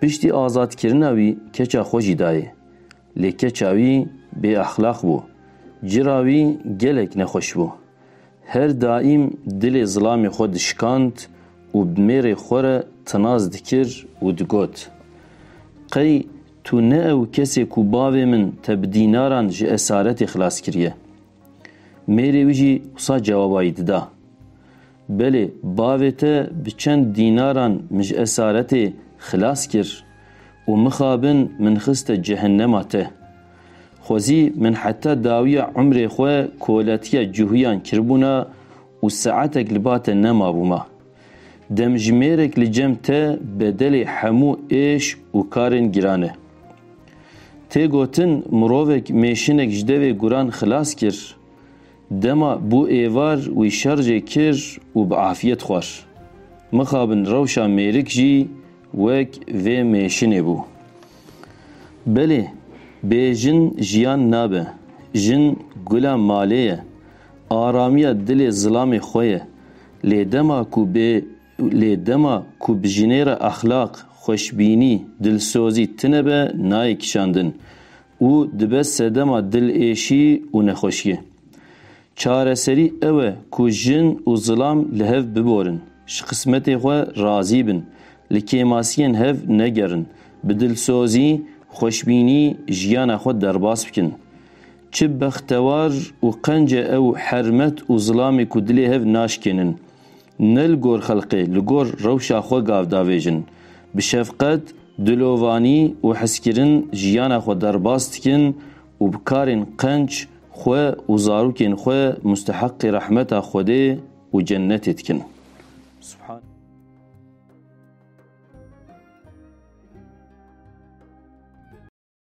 Piştî azadkirina wî keça xwe jî dayê. Lê keça wî bêexlaq bû. Cira wî gelek nexweş bû. Her daîm dilê zilamê xwe dişikand û bi mêrê xwe re tinaz dikir û digot, Qey tu ne ew kesê ku bavê min te bi dînaran ji esaretê xilas kiriye? Mêrê wî jî wisa cewaba wî dida. Belê, bavê te bi çend dînaran min ji esaretê xilas kir û mixabin min xiste cehennema te. Xwezî min heta dawiya umrê xwe koletiya cuhuyan kiribûna û saetek li ba te nemabûma. Demjimêrek li cem te bedelê hemû êş û karên giran e. Tê gotin mirovek mêşinek ji devê guran xilas kir, Dema bû êvar wî şerjê kir û bi afiyet xwar. Mixabin rewşa mêrik jî wek vê mêşinê bû. Belê, bê jin jiyan nabe. Jin gula malê ye. Aramiya dilê zilamê xwe ye. Lê dema ku bê Lê dema ku bi jinê re exlaq, xweşbînî, dilsozî tine be nayê kişandin û dibe sedema dilêşî û nexweşiyê. Çareserî ew e ku jin û zilam li hev biborin, ji qismetê xwe razî bin, li kêmasiyên hev negerin, bi dilsozî, xweşbînî jiyana xwe derbas bikin. Çi bextewar û qenc e ew hermet û zilamê ku dilê hev naşkênin. Ne li gor xelqê, li gor rewşa xwe gav davêjin. Bi şefqet, dilovanî û hizkirin jiyana xwe derbas dikin û bi karên qenc xwe û zarokên xwe musteheqî rehmeta Xwedê û cennetê dikin. Subhan.